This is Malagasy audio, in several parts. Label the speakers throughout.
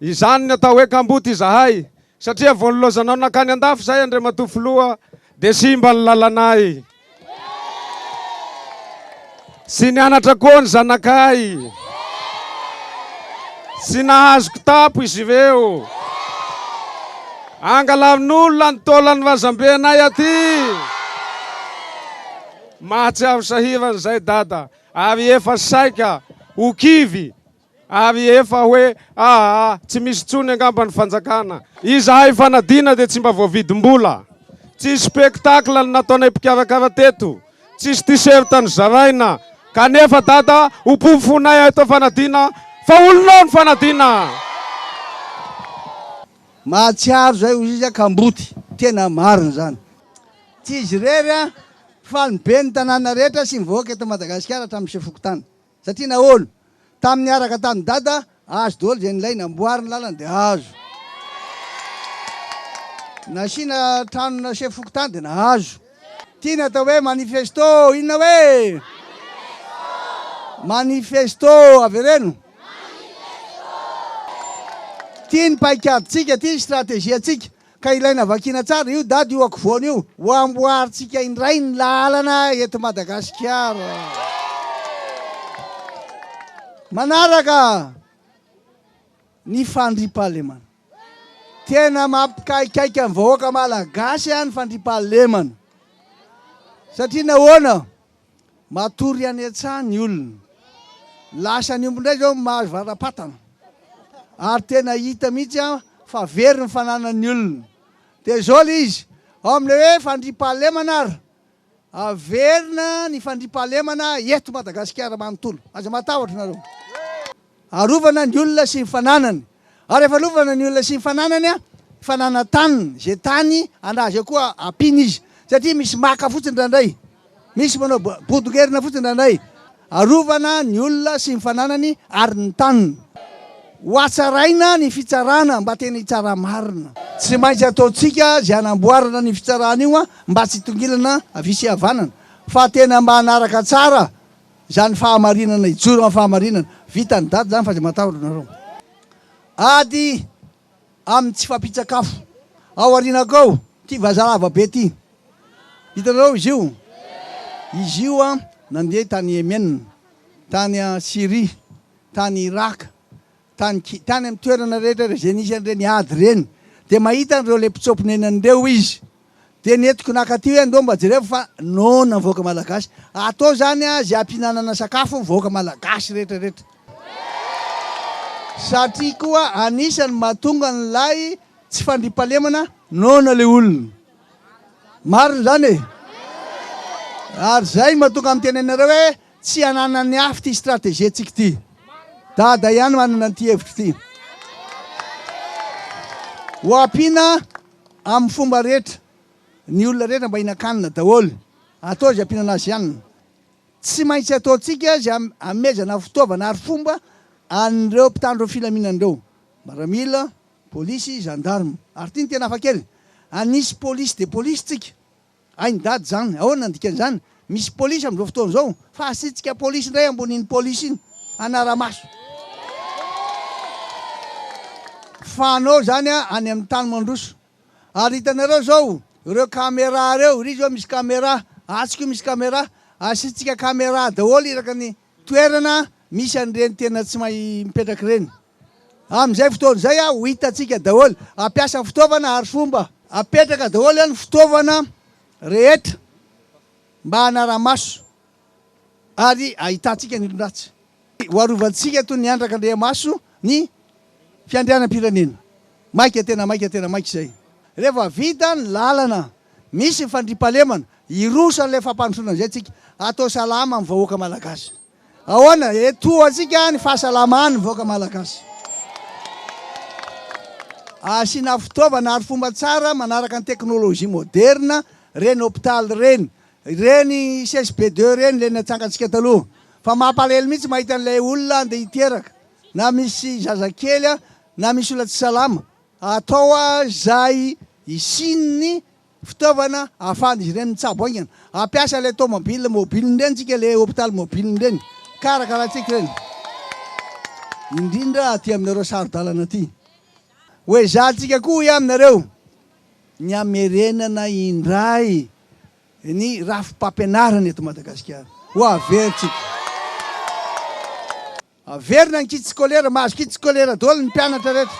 Speaker 1: Izany ny atao hoe kamboty izahay satria vao nilaozanao nankany andafy izahay Andriamatoa Filoha dia simba ny lalanay. Tsy nianatra koa ny zanakay. Tsy nahazo kitapo izy ireo. Angalarin'olona ny taolan'ny razambenay aty. Mahatsiaro sahirana izay dada ary efa saika ho kivy Ary efa hoe aa tsy misy intsony angamba ny fanjakana. Izahay fanadina dia tsy mba voavidim-bola. Tsisy spectacle ny nataonay mpikarakara teto. Tsisy t-shirt nozaraina. Kanefa dada ho porofonay eto fanadina fa olonao ny fanadina.
Speaker 2: Mahatsiaro zay ozy izy kamboty. Tena marina zany. Tsy izy irery fa ny ben'ny tanàna rehetra sy mivoaka eto Madagasikara hatramin'ny chef fokontany. Satria nahoana? Tamin'ny niaraka tamin'i Dada, azo daholo izay nilaina, amboary ny lalana dia azo. Nasiana trano na chef fokontany dia nahazo. Ity ny atao hoe manifesto, inona hoe? Manifesto, avereno. Ity ny paikadintsika, ity ny strategie-ntsika. Ka ilaina vakiana tsara io dada io akovoany io ho amboarintsika indray ny lalana eto Madagasikara. Manaraka ny fandriampahalemana. Tena mampikaikaika ny vahoaka malagasy ny fandriampahalemana. Satria nahoana? Matory any an-tsaha ny olona. Lasa ny omby indray izao mahazo vara-patana. Ary tena hita mihitsy fa very ny fananan'ny olona. Dia izao ilay izy, ao amin'ilay hoe fandriampahalemana ary, averina ny fandriampahalemana eto Madagasikara manontolo. Aza matahotra ianareo. Arovana ny olona sy ny fananany. Ary rehefa arovana ny olona sy ny fananany, fanana taniny, izay tany anà izay koa ampiana izy. Tsy satria misy maka fotsiny indraindray, misy manao bodongerona fotsiny indraindray. Arovana ny olona sy ny fananany ary ny taniny. Hohatsaraina ny fitsarana mba tena hitsara marina. Tsy maintsy ataontsika izay hanamboarana an'io fitsarana io mba tsy hitongilana havia sy havanana, fa tena mba hanaraka tsara Izany fahamarinana ijoro amin'ny fahamarinana. Vita ny daty izany fa izay matahotra anareo. Ady amin'ny tsy fampitsakafo. Ao aorianako ao, ity vazaha lava be ity. Hitanareo izy io? Izy io nandeha tany Yemen, tany Syrie, tany Irak, Tany ki, tany amin'ny toerana rehetra izay nisy an'ireny ady ireny, dia mahita an'ireo ilay mpitsoa-ponenana ireo izy. Dia nentiko naka aty hoe andao mba jereo fa noana ny vahoaka malagasy. Atao izany izay hampihinanana sakafo ny vahoaka malagasy rehetra rehetra. Satria koa anisan'ny mahatonga an'ilay tsy fandriampahalemana noana ilay olona. Marina izany e! Ary izay no mahatonga ahy miteny anareo hoe Tsy ananan'ny hafa ity stratégie-ntsika ity. Dada ihany manana an'ity hevitra ity. Ho ampiana amin'ny fomba rehetra. Ny olona rehetra mba hihinan-kanina daholo. Atao izay ampiana an'azy ihany. Tsy maintsy ataontsika izay hamehezana fitaovana ary fomba an'ireo mpitandro ny filaminana ireo. Maramila, polisy, gendarme. Ary ity no tena hafakely. Hanisy police de police tsika. Hainy dada izany, ahoana ny dikan'izany? Misy polisy amin'izao fotoana izao fa hasitsika polisy indray ambonin'iny polisy iny hanara-maso fa anao izany any amin'ny tany mandroso. Ary hitanareo izao ireo camera ireo, iry izao misy camera, atsy koa misy camera, hasitsika camera daholo iraka ny toerana misy an'ireny tena tsy mahay mipetraka ireny. Amin'izay fotoana izay aho ho hitantsika daholo. Hampiasa fitaovana ary fomba. Apetraka daholo eo ny fitaovana rehetra mba hanara-maso ary hahitantsika ny olon-dratsy. Ho arovantsika toy ny andraka andriamaso ny fiandrianam-pirenena. Maika tena maika tena maika izay. Rehefa vita ny lalana, misy ny fandriampahalemana, hiroso an'ilay fampandrosoana izay tsika. Atao salama ny vahoaka malagasy. Ahoana? Etohantsika ny fahasalaman'ny vahoaka malagasy. Asiana fitaovana ary fomba tsara manaraka ny teknolojia moderina ireny hopitaly ireny, ireny csb deux ireny ilay natsangantsika taloha. Fa mampalahelo mihitsy mahita an'ilay olona andeha hiteraka, na misy zazakely, na misy olona tsy salama. Atao izay hisian'ny fitaovana ahafahan'izy ireny mitsabo haingana. Hampiasa ilay tomobile mobile ireny tsika, ilay hopitaly mobile ireny. Karakaraintsika ireny. Indrindra aty aminareo saro-dalana aty. Hoezahantsika koa hoy aminareo ny hamerenana indray ny rafi-pampianarana eto Madagasikara. Ho averintsika. Averina ny kit scolaire, mahazo kit scolaire daholo ny mpianatra rehetra.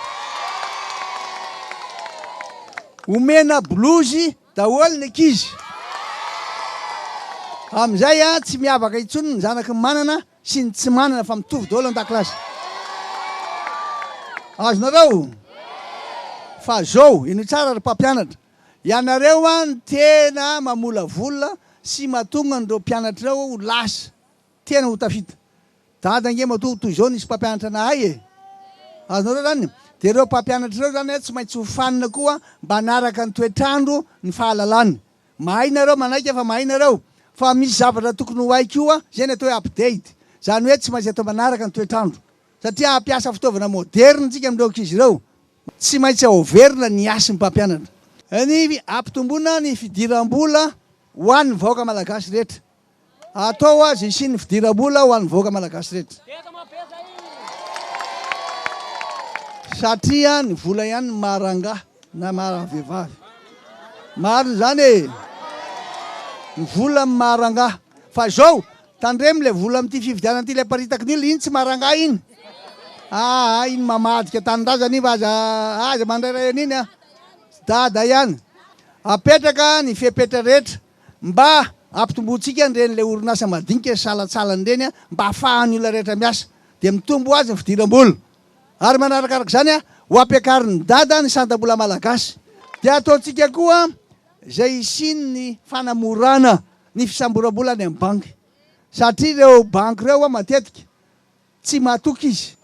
Speaker 2: Omena bolozy daholo ny ankizy. Amin'izay tsy miavaka intsony ny zanaky ny manana sy ny tsy manana fa mitovy daholo an-dakilasy. Azonareo? Fa zao, ino tsara ry mpampianatra, ianareo no tena mamolavola sy mahatonga an'ireo mpianatrareo ho lasa Tena ho tafita. Dada ange matoa toy izao nisy mpampianatra nahay e! Azonareo izany? Dia ireo mpampianatra ireo izany tsy maintsy hofanina koa mba hanaraka ny toetr'andro, ny fahalalana. Mahay nareo manaiky fa mahay nareo, fa misy zavatra tokony ho hay koa, izay ny atao hoe update. Izany hoe tsy maintsy atao manaraka ny toetr'andro. Satria hampiasa fitaovana moderina isika amin'ireo ankizy ireo. Tsy maintsy aoverina ny hasin'ny mpampianatra. Ny hampitomboana ny fidiram-bola ho an'ny vahoaka malagasy rehetra. Atao aza hisian'ny fidiram-bola ho an'ny vahoaka malagasy rehetra. Satria ny vola ihany no maha rangahy na maha vehivavy. Marina izany e! Ny vola no maha rangahy. Fa izao, tandremo ilay vola amin'ity fifidianana ity, ilay aparitaky ny olona, iny tsy maha rangahy iny. Aa, iny mamadika tanindrazana iny fa aza, aza mandairay an'iny an. Tsy dada ihany. Apetraka ny fepetra rehetra. Mba ampitomboantsika ny ren'ilay orinasa madinika sy salantsalany ireny mba hahafahan'ny olona rehetra miasa, dia mitombo ho azy ny fidiram-bola. Ary manarakaraka izany, ho ampiakarin'i Dada ny santam-bola malagasy, dia ataontsika koa izay hisian'ny fanamorana ny fisamboram-bola any amin'ny banky, satria ireo banky ireo matetika Tsy mahatoky izy.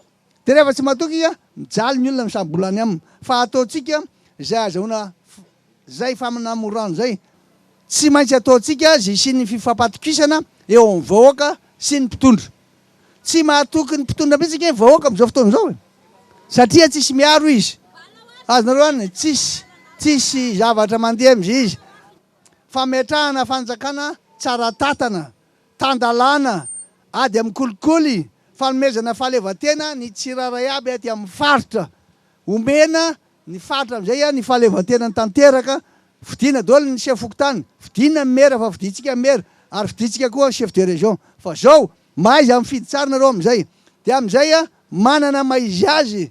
Speaker 2: Dia rehefa tsy mahatoky izy, mijaly ny olona misambola any aminy. Fa ataontsika izay azahoana izay faminamorana izay. Tsy maintsy ataontsika izay hisian'ny fifampatokisana eo amin'ny vahoaka sy ny mpitondra. Tsy mahatoky ny mpitondra mihitsy ange ny vahoaka amin'izao fotoana izao e! Satria tsisy miaro izy. Azonareo an, tsisy, tsisy zavatra mandeha amin'izay izy. Fametrahana fanjakana tsara tatana, Tan-dalàna, ady amin'ny kolikoly, fanomezana fahaleovantena ny tsirairay aby aty amin'ny faritra. Omena ny faritra amin'izay ny fahaleovantenany tanteraka, fidina daholo ny chef fokontany, fidina ny maire fa fidintsika ny maire, ary fidintsika koa ny chef de région. Fa zao, mahaiza mifidy tsara nareo amin'izay. Dia amin'izay manana mahaizy azy